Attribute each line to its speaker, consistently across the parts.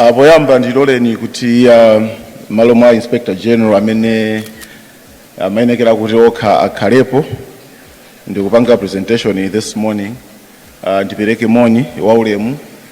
Speaker 1: Ah, poyamba ndiloleni kuti ah, mmalo mwa inspector general amene amayenekera kuti okha akhalepo ndikupanga presentation this morning ah, ndipereke moni waulemu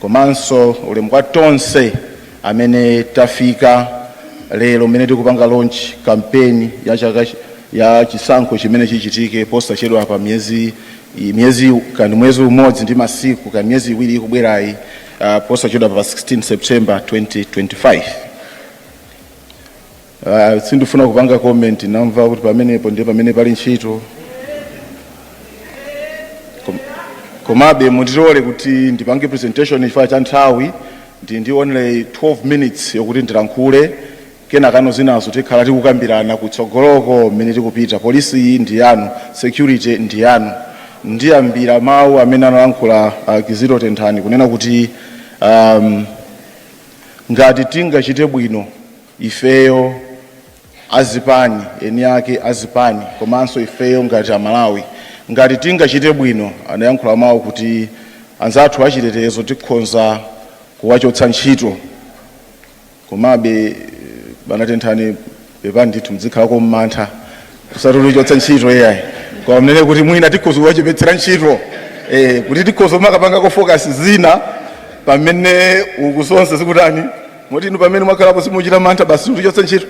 Speaker 1: komanso ulemu kwa tonse amene tafika lero mmene tikupanga launch campaign ya chaka chi- ya chisankho chimene chichitike posachedwapa miyezi i- miyezi kani mwezi umodzi ndi masiku kani miyezi iwiri ikubwerayi uh, posachedwapa 16 september 2025 Ah, sindifuna kupanga comment namva kuti pamenepo ndiye pamene pali ntchito Kom- komabe mundilole kuti ndipange presentation chifukwa cha nthawi ndi- ndili ndi only 12 minutes yokuti ndilankhule kenakano zinazo tikhala tikukambirana kutsogoloko mmene tikupita polisi iyi ndi yanu security ndi yanu ndiyambira mawu amene analankhula uh, kizito tenthani kunena kuti um, ngati tingachite bwino Ifeyo azipani, eni ake a zipani komanso ifeyo ngati a Malawi ngati tingachite bwino anayankhula mawu kuti anzathu achitetezo tikhonza kuwachotsa ntchito komabe bana Tenthani pepani ndithu mudzikhalako ndi mantha osati kutichotsa ntchito iyayi koma munene kuti mwina tikhoza kuwachepetsera ntchito eh, kuti tikhoza kumakapangako focus zina pamene uku zonse zikutani moti inu pamene mwakhalapo simuchita mantha basi mutichotse ntchito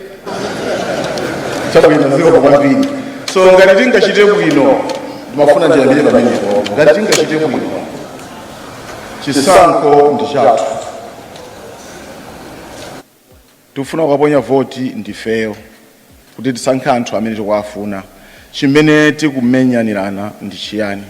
Speaker 1: chabwino zikomo kwambiri so ngati tingachite bwino ndimafuna ndiyambire pamenepo ngati tingachite bwino chisankho ndi chathu tikufuna kukaponya voti ndifeyo kuti tisankhe anthu amene tikuwafuna chimene tikumenyanirana ndi chiyani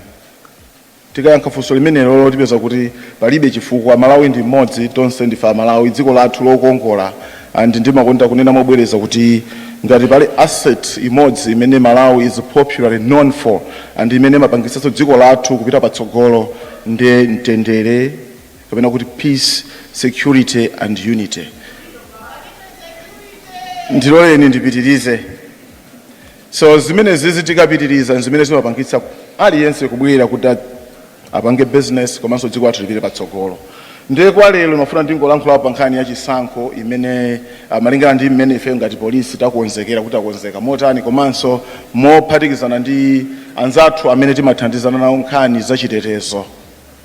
Speaker 1: Tikayankha funso limenelo tipeza kuti palibe chifukwa. Malawi ndi mmodzi, tonse ndife a Malawi, dziko lathu lokongola and ndimakonda kunena mobwereza kuti ngati pali asset imodzi imene Malawi is popularly known for and imene imapangitsanso dziko lathu kupita patsogolo ndi mtendere kapena kuti peace, security and unity. Ndiloleni ndipitirize. So zimenezizi tikapitiriza nzimene zimapangitsa aliyense kubwera kuti a- apange business komanso dziko lathu lipite patsogolo. Ndiye kwa lero ndimafuna ndingolankhula pa nkhani ya chisankho imene ah, malingana ndi mmene ife ngati polisi takonzekera kuti takonzeka motani komanso mophatikizana ndi anzathu amene timathandizana nawo nkhani za chitetezo.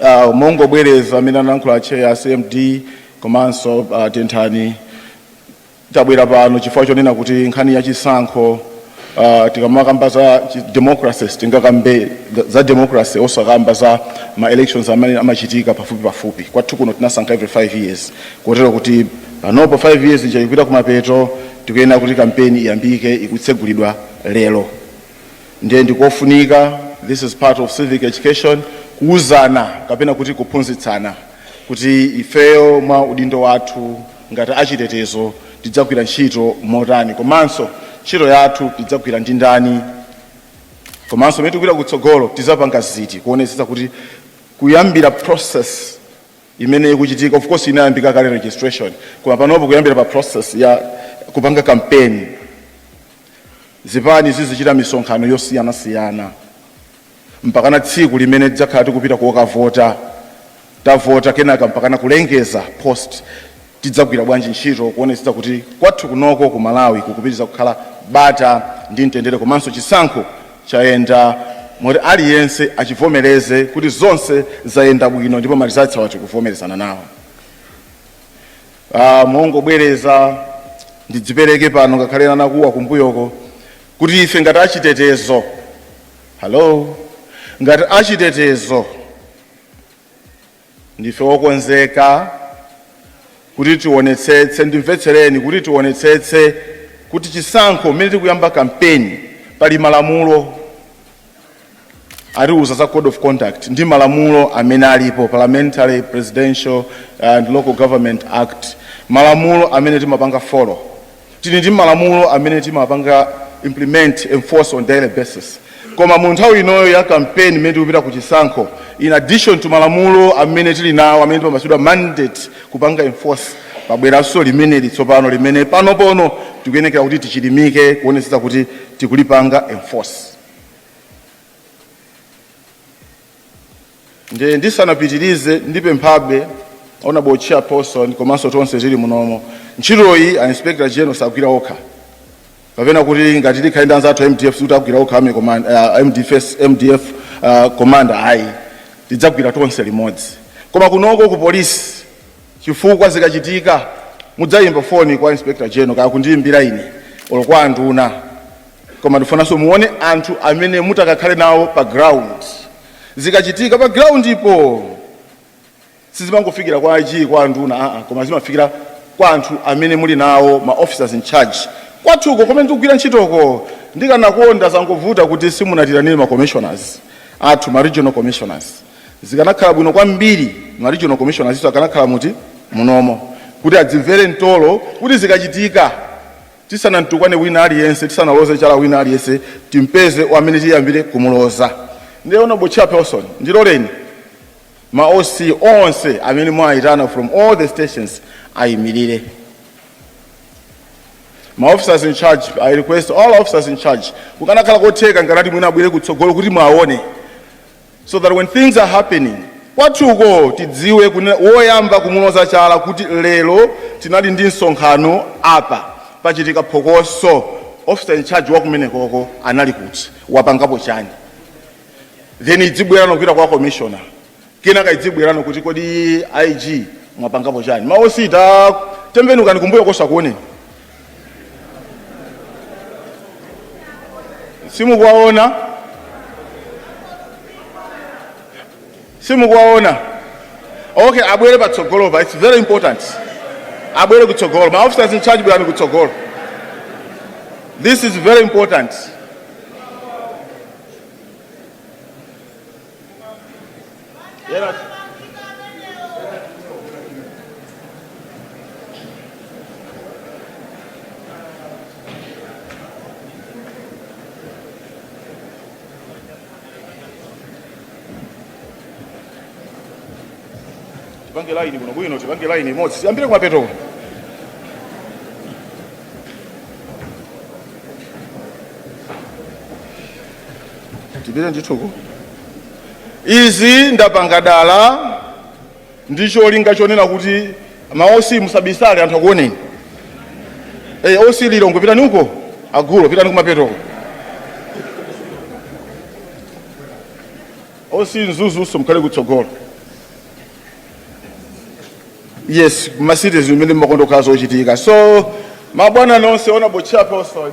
Speaker 1: uh, mongobwereza zimene analankhula atcheya a cmd komanso uh, tenthani tabwera pano chifukwa chonena kuti nkhani ya chisankho uh, tikamakamba za chi- democracy sitingakambe za- za democracy osakamba za ma elections amene amachitika pafupi pafupi kwathu kuno tinasankha every 5 years kotero kuti panopo 5 years ija ikupita kumapeto tikuyenekera kuti kampeni iyambike ikutsegulidwa lero Ndiye ndikofunika, this is part of civic education, kuuzana kapena kuti kuphunzitsana kuti ifeyo mwa udindo wathu ngati achitetezo tidzagwira ntchito motani komanso ntchito yathu tidzagwira ndi ndani komanso pamene tikupita kutsogolo tizapanga ziti kuonetsetsa kuti kuyambira process imene ikuchitika of course inayambika kale registration koma panopo kuyambira pa process ya kupanga kampeni Zipani zizichita misonkhano yosiyanasiyana mpakana tsiku limene tidzakhala tikupita kokavota, tavota kenaka mpakana kulengeza post tidzagwira bwanji ntchito kuonetsetsa kuti kwathu kunoko ku Malawi kukupitirira kukhala bata ndi mtendere komanso chisankho chayenda moti aliyense achivomereze kuti zonse zayenda bwino ndipo ma results awa tikuvomerezana nawo. Ah, mongobwereza ndidzipereke pano ngakhale anakuwa kumbuyoko kuti ife ngati achitetezo hallo ngati achitetezo ndife wokonzeka kuti tionetsetse ndimvetsereni kuti tionetsetse kuti chisankho mmene tikuyamba kampeni pali malamulo atiuza za code of conduct ndi malamulo amene alipo parliamentary presidential and local government act malamulo amene timapanga follow tili ndi malamulo amene timapanga implement enforce on daily basis koma mu nthawi inoyo ya campaign imene tikupita ku chisankho in addition to malamulo amene tili nawo amene timapatsidwa mandate kupanga enforce pabweranso limeneli tsopano limene panopono tikuyenekera kuti tichilimike kuonetsetsa kuti tikulipanga enforce ndisanapitirize ndipemphabe honorable chairperson komanso tonse tili munomo ntchitoyi a inspector general sagwira okha kapena kuti ngati tikhale ndi anzathu a mdf sikuti agwira okha a mdf ah, commander ayi tidzagwira tonse limodzi koma kunoko ku polisi chifukwa zikachitika mudzayimba foni kwa inspector general kaya kundiyimbira ine olo kwa anduna koma ndifunanso muone anthu amene mutakakhale nawo pa ground zikachitika pa ground po sizimangofikira kwa IG kwa anduna aa koma zimafikira kwa anthu amene muli nawo ma officers in charge kwathuko komwe tikugwira ntchitoko ndikanakonda zangovuta kuti simunatiitanire ma commissioners athu ma regional commissioners zikanakhala bwino kwambiri ma regional commissioners nso akanakhala muli munomo kuti adzimvere mtolo kuti zikachitika Tisanamtukwane wina aliyense, tisanaloze chala wina aliyense, timpeze amene tiyambire kumuloza. Ndiye Honourable Chairperson, ndiloleni ma OC onse amene mwaitana from all the stations ayimilire. Ma officers in charge, I request all officers in charge, kukanakhala kotheka nkanati mwina abwere kutsogolo kuti muawone. so that when things are happening kwathuko tidziwe kunena woyamba kumuloza chala kuti lero tinali ndi msonkhano apa pachitika phokoso officer in charge wakumenekoko anali kuti wapangapo chani then izibwera no kupita kwa commissioner kenaka izibwera no kuti kodi ig mwapangapo chani ma OC tatembenukani kumbuyoko akuoneni simukuwaona simukuwaona okay abwere patsogolopa it's very important abwere kutsogolo ma officers in charge bwerani kutsogolo this is very important Yera. Tipange line kuno bwino, tipange line imodzi. Tiyambire kumapetoko. tipite ndithuko izi ndapanga dala ndi cholinga chonena kuti ma OC musabisale anthu akuoneni Eh, OC lilongwe pitani uko a gulo pitani kumapetoko OC mzuzunso mkhale kutsogolo yes ma cities imene mmakonda kukhala zochitika so mabwana nonse honourable chairperson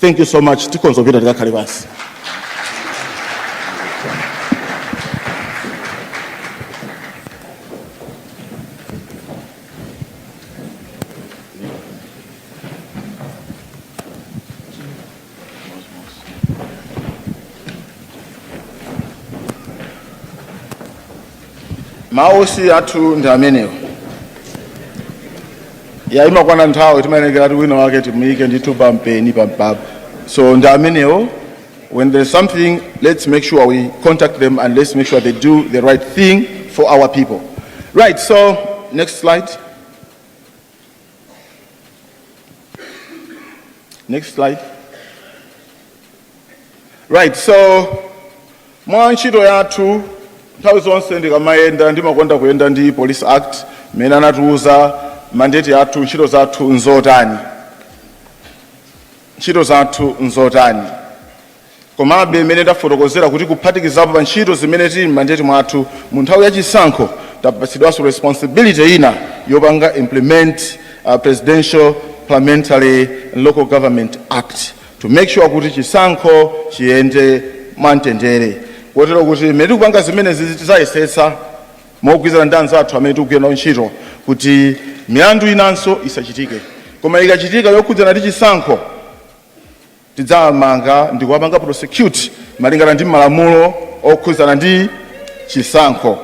Speaker 1: Thank you so much. Tikhoza kupita tikakhale pansi. ma OC athu ndi amenewo ya ikamakwana nthawi timayenekera kuti wina wake timuyike ndithu pampeni pampapa so ndi amenewo when there's something let's make sure we contact them and let's make sure they do the right thing for our people right so next slide next slide right so mwa ntchito yathu nthawi zonse ndikamayenda ndimakonda kuyenda ndi police act imene imatiuza mandeti yathu ntchito zathu nzotani ntchito zathu nzotani komabe mmene ndafotokozera kuti kuphatikizapo pa ntchito zimene zili m'mandeti mwathu mu nthawi ya chisankho tapatsidwanso responsibility ina yopanga implement uh, presidential parliamentary and local government act to make sure kuti chisankho chiyende mwamtendere kotero kuti mmene tikupanga zimenezi tizayesetsa mogwirizana ndi anzathu amene tikugwira nawo ntchito kuti milandu inanso isachitike koma ikachitika yokhudzana ndi chisankho tidzawamanga ndi kuwapanga prosecute malingana ndi malamulo okhudzana ndi chisankho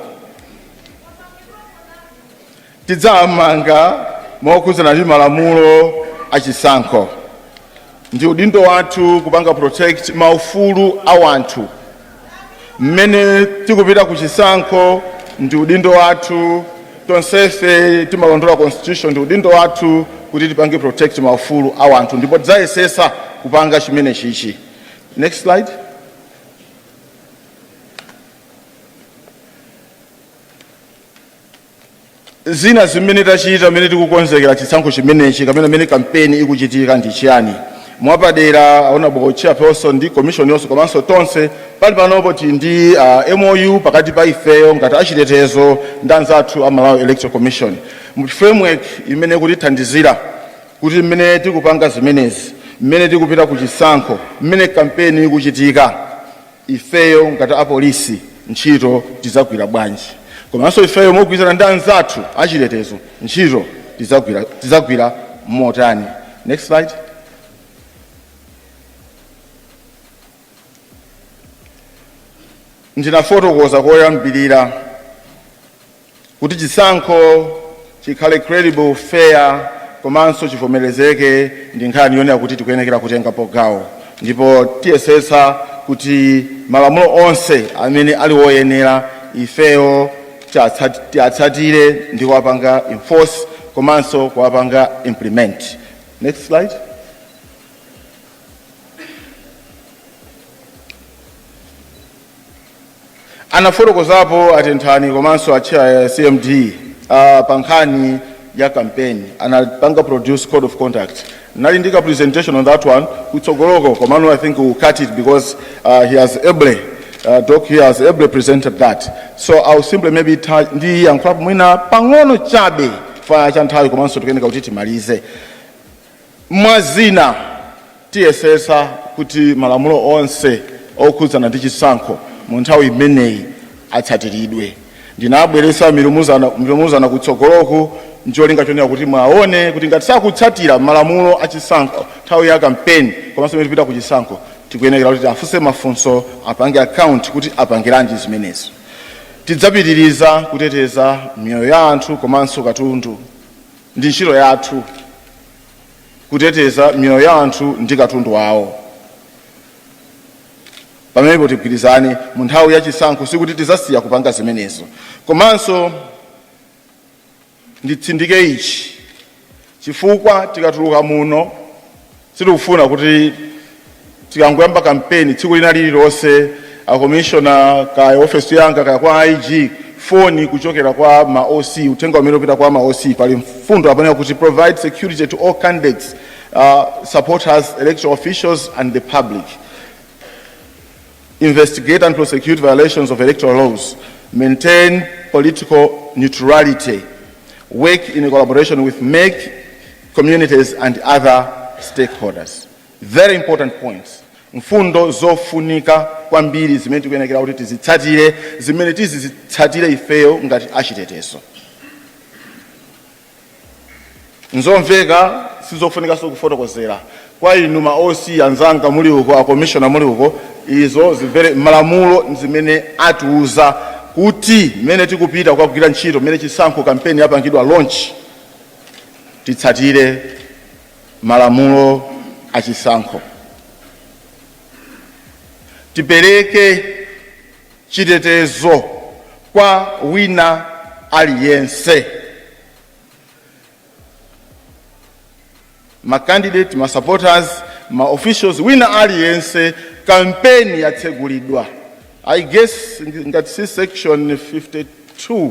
Speaker 1: Tidzawamanga mokhudzana ndi malamulo a chisankho. Ndi udindo wathu kupanga protect maufulu a wanthu. Mmene tikupita ku chisankho ndi udindo wathu, tonsefe timalondola constitution, ndi udindo wathu kuti tipange protect maufulu a wanthu ndipo tidzayesesa kupanga chimenechichi. Next slide. Zina zimene tachita mmene tikukonzekera chisankho chimenechi kapena mmene kampeni ikuchitika ndi chiyani? Mwapadera, a Honorable Chairperson ndi Commission yonse komanso tonse tili panopo tili ndi uh, MOU pakati pa ifeyo ngati achitetezo ndi anzathu a Malawi Electoral Commission mu framework imene ikutithandizira kuti mmene tikupanga zimenezi, mmene tikupita ku chisankho, mmene kampeni ikuchitika, ifeyo ngati apolisi ntchito tidzagwira bwanji komanso ifeyo mogwirizana ndi anzathu achitetezo ntchito tidzagwira motani next slide ndinafotokoza koyambirira Kuti chisankho chikhale credible, fair komanso chivomerezeke ndi nkhani yonena kuti tikuyenekera kutengapo gawo ndipo tiyesetsa kuti malamulo onse amene ali woyenera ifeyo tiatsatire ndi kuwapanga enforce komanso kuwapanga implement. Next slide. Anafotokozapo a Tenthani komanso a chair ya CMD uh, pa nkhani ya campaign anapanga produce code of conduct nali ndi ka presentation on that one kutsogoloko komano I think I'll cut it because uh, he has ably uh, doc here has ably presented that so i'll simply maybe ta- ndiyankhulapo mwina pang'ono chabe chifukwa cha nthawi komanso tikuyeneka kuti timalize Mwa zina, tiyesetsa kuti malamulo onse okhudzana ndi chisankho mu nthawi imeneyi atsatiridwe. Ndinabweretsa milumuzana kutsogoloku ncholinga chonena kuti muwaone kuti ngati sakutsatira malamulo achisankho nthawi ya kampeni komanso pamene tikupita kuchisankho, tikuyenekera kuti tiafunse mafunso, apange account kuti apangiranji zimenezo. Tidzapitiriza kuteteza miyoyo ya anthu komanso katundu. Ndi ntchito yathu kuteteza miyoyo ya anthu ndi katundu wawo. Pamenepo tigwirizane, mu nthawi ya chisankho sikuti tidzasiya kupanga zimenezo. Komanso nditsindike ichi chifukwa tikatuluka muno Sitikufuna kuti tikangoyamba kampeni, tsiku lina lililonse a commissioner kaya ofesi yanga kaya kwa IG, foni kuchokera kwa ma OC, uthenga umene upita kwa ma OC, pali mfundo apa yanena kuti provide security to all candidates, uh, supporters, electoral officials and the public. investigate and prosecute violations of electoral laws, maintain political neutrality, work in collaboration with MEC, communities and other stakeholders. Very important points. mfundo zofunika kwambiri zimene tikuyenekera kuti tizitsatire zimene tizizitsatira ifeyo ngati achitetezo nzomveka sizofunikanso kufotokozera kwa inu ma oc anzanga muli uko a commissioner muli uko izo zimvere malamulo ndi zimene atiuza kuti mmene tikupita kukagwira ntchito mmene chisankho kampeni yapangidwa launch titsatire malamulo a chisankho tipereke chitetezo kwa wina aliyense. Ma candidate, ma supporters, ma officials, wina aliyense kampeni yatsegulidwa. I guess ngati si section 52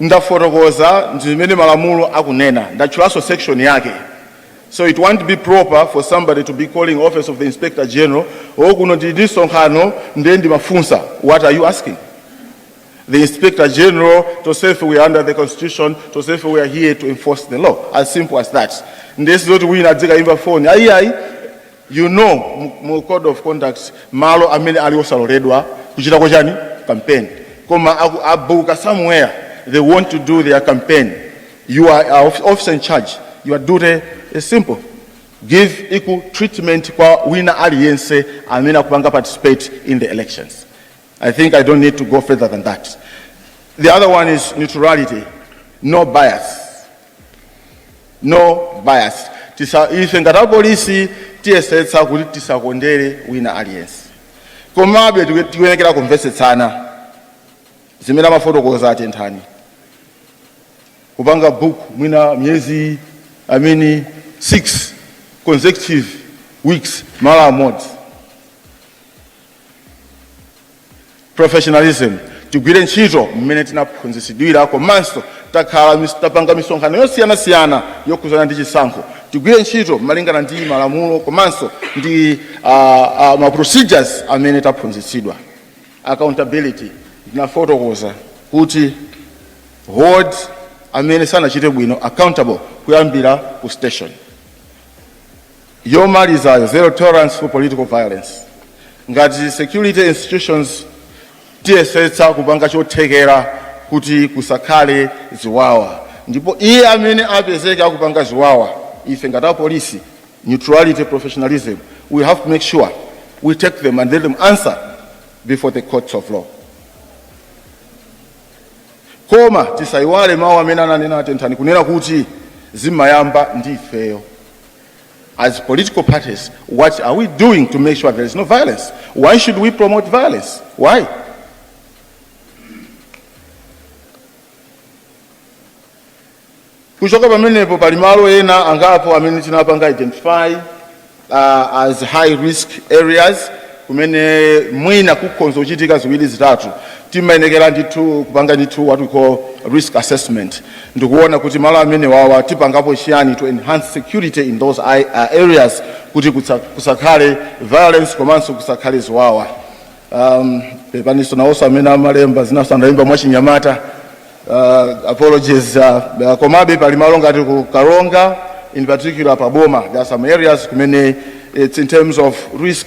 Speaker 1: ndafotokoza ndi mmene malamulo akunena ndatchulanso section yake so it won't be proper for somebody to be calling office of the inspector general o kuno tili ndi msonkhano ndiye ndimafunsa what are you asking the inspector general tonsefe we are under the constitution tonsefe we are here to enforce the law as simple as that ndiye sizoti wina azikaimba foni ayiayi You know mu code of conducts malo amene ali osaloledwa kuchitako chani campaign koma aku abuka somewhere they want to do their campaign you are a of- officer in charge your duty is simple give equal treatment kwa wina aliyense amene akupanga participate in the elections i think i don't need to go further than that the other one is neutrality no bias no bias ife ngati apolisi tiyesetsa kuti tisakondere wina aliyense komabe tiku- tikuyenekera kumvetsetsana zimene amafotokoza a Tenthani kupanga book mwina miyezi i mean six consecutive weeks malo amodzi Professionalism Tigwire ntchito mmene tinaphunzitsidwira komanso takhala tapanga misonkhano yosiyanasiyana yokhudzana ndi chisankho. Tigwire ntchito malingana ndi malamulo komanso ndi a, a, ma procedures amene taphunzitsidwa. Accountability Ndinafotokoza kuti hold amene sanachite bwino accountable kuyambira ku station. yomalizayo, zero tolerance for political violence. Ngati security institutions tiyesetsa kupanga chothekera kuti kusakhale ziwawa, ndipo iye amene apezeke akupanga ziwawa, ife ngati apolisi, neutrality, professionalism, we have to make sure we take them and let them answer before the courts of law. Koma tisayiwale mawu amene ananena a Tenthani kunena kuti zimayamba ndi ifeyo. as political parties what are we doing to make sure there is no violence why should we promote violence why kuchoka pamenepo pali malo ena angapo amene tinapanga identify uh, as high risk areas kumene mwina kukhonza kuchitika ziwiri zitatu timayenekera ndithu kupanga ndithu what we call risk assessment Ndikuona kuti malo amenewawa tipangapo chiyani to enhance security in those ai- uh, areas kuti kutsa- kusakhale violence komanso kusakhale ziwawa. Um, pepaniso nawonso amene amalemba izi naonso analemba mwachinyamata uh, apologies uh, uh, komabe pali malo ngati ku Karonga in particular pa Boma there are some areas kumene it's in terms of risk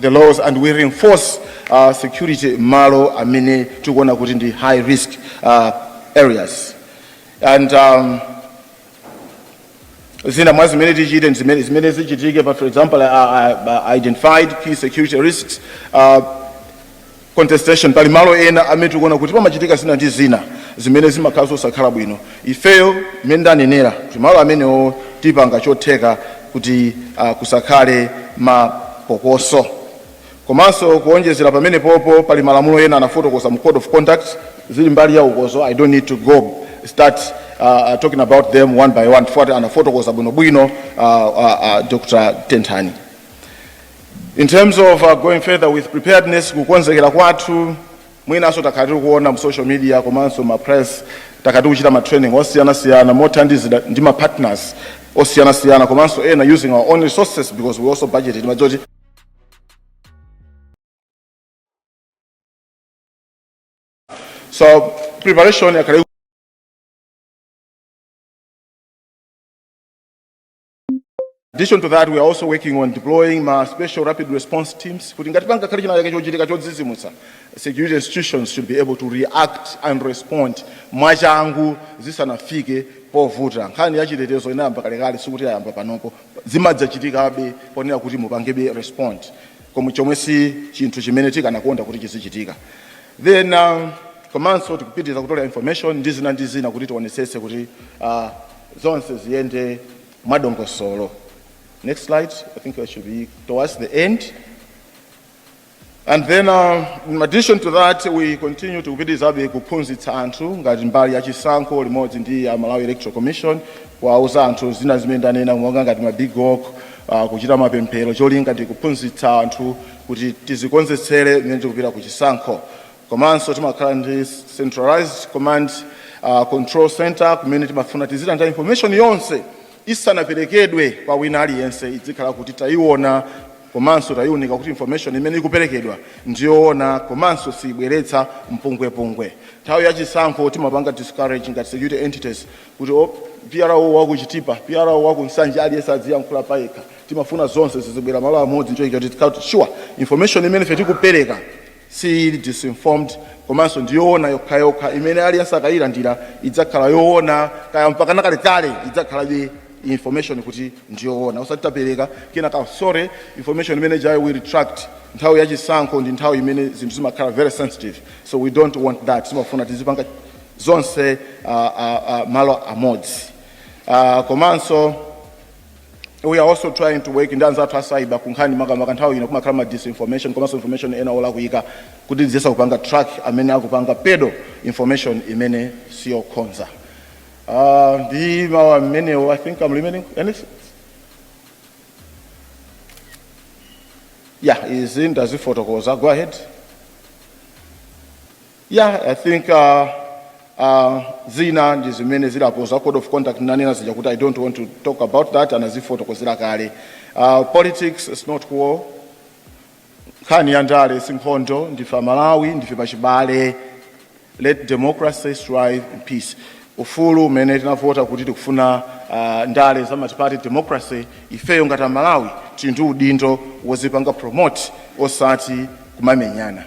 Speaker 1: the laws and we reinforce uh, security malo amene tikuona kuti ndi high risk uh, areas and um, zina mwa zimene tichite ndi zimene- zimene zichitike but for example uh, uh, identified key security risks uh, contestation pali malo ena amene tikuona kuti pamachitika zina ndi zina zimene zimakhala zosakhala bwino ifeyo mmene ndanenera kuti malo amenewo tipanga chotheka kuti uh, kusakhale mapokoso komanso kuonjezera pamenepopo pali malamulo ena anafotokoza mu code of conduct zili mbali ya ukozi i don't need to go start uh, talking about them one by one chifukwa anafotokoza bwinobwino uh, uh, uh, dr tenthani In terms of uh, going further with preparedness, kukonzekera kwathu mwinanso takhala tiri kuona mu social media komanso ma press takhala tiri kuchita ma training osiyanasiyana mothandizidwa ndi ma partners osiyanasiyana komanso ena using our own resources because we also budgeted timadziwa kuti so preparation yakale addition to that we are also working on deploying ma special rapid response teams kuti ngati pangakhale chinachake chochitika chodzidzimutsa security institutions should be able to react and respond mwachangu zisanafike povuta nkhani ya chitetezo inayamba kalekale sikuti yayamba panopo zimadzachitikabe ponena kuti mupangebe respond komwe chomwe si chinthu chimene tikanakonda kuti chizichitika then um, komanso tikupitiriza kutolera information ndi zina ndi zina kuti tionetsetse kuti uh, zonse ziyende mwadongosolo. Next slide. I think I should be towards the end. And then uh, in addition to that we continue tikupitirizabe kuphunzitsa anthu ngati mbali ya chisankho limodzi ndi a Malawi Electoral Commission kuwauza anthu zina zimene ndanena monga ngati ma big walk uh, kuchita mapemphero cholinga ndi kuphunzitsa anthu kuti tizikonzetsere mmene tikupita ku chisankho. Komanso timakhala ndi centralized command uh, control center kumene timafuna tizilandira information yonse isanaperekedwe kwa wina aliyense idzikhala kuti tayiona komanso tayiunika kuti information imene ikuperekedwa ndiyoona komanso siyibweretsa mpungwepungwe nthawi ya chisankho timapanga discourage ngati security entities kuti o PRO wa ku Chitipa PRO wa ku Nsanje aliyense adziyankhula payekha timafuna zonse zizibwera malo amodzi n'cholinga kuti tikhale kuti sure information imene ife tikupereka siili disinformed komanso ndi yoona yokhayokha imene aliyense akayilandira idzakhala yoona kaya mpakana kalekale idzakhalabe information kuti ndi yoona osati tapereka kenaka sorry information imene ijayo we retract nthawi ya chisankho ndi nthawi imene zinthu zimakhala very sensitive so we don't want that timafuna tizipanga zonse uh, uh, uh, malo amodzi uh, komanso we are also trying to work ndi anzathu a cyber kunkhani makamaka nthawi ino kumakhala ma disinformation komanso information ena olakwika kuti tiziyesa kupanga track amene akupanga peddle information imene siyokhoza uh, ndi mawu amenewo i think i'm remaining anything yeah izi ndazifotokoza go ahead Yeah, I think uh, uh, zina ndi zimene zilapo za code of conduct nanena zija kuti I don't want to talk about that anazifotokozera kale. Uh, politics is not war. Nkhani ya ndale si nkhondo ndife amalawi ndife pachibale. Let democracy thrive in peace. Ufulu umene tinavota kuti tikufuna uh, ndale za multiparty democracy ifeyo ngati amalawi tili ndi udindo wozipanga promote osati kumamenyana.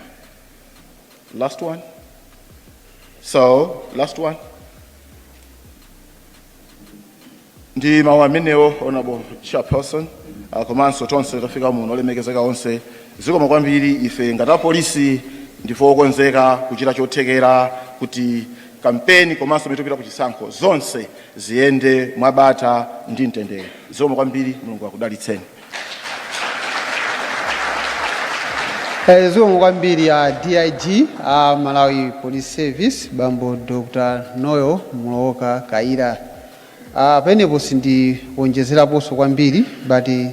Speaker 1: Last one. So, last one. ndi mawu amenewo honorable chairperson uh, komanso tonse tafika muno olemekezeka onse zikomo kwambiri ife ngati apolisi ndife okonzeka kuchita chothekera kuti kampeni komanso mmene tikupita ku chisankho zonse ziyende mwabata ndi mtendere zikomo kwambiri mulungu akudalitseni
Speaker 2: Eh, zikomo kwambiri a dig a malawi police service bambo dr noel mulowoka kaira uh, penepo sindionjezeraponso kwambiri but eh,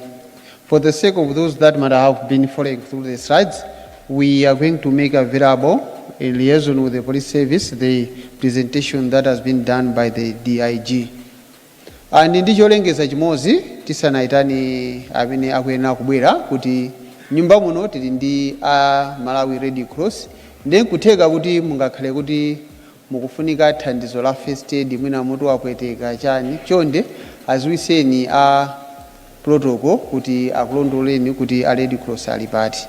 Speaker 2: for the sake of those that might have been following through the slides we are going to make available in liaison with the police service the presentation that has been done by the dig And ndi cholengeza chimodzi tisanaitane amene akuyenera kubwera kuti m'nyumba muno tili ndi a Malawi Red Cross ndiye nkutheka kuti mungakhale kuti mukufunika thandizo la first aid mwina mutu wapweteka chani chonde aziwiseni a protocol kuti akulondoleni kuti a Red Cross ali pati.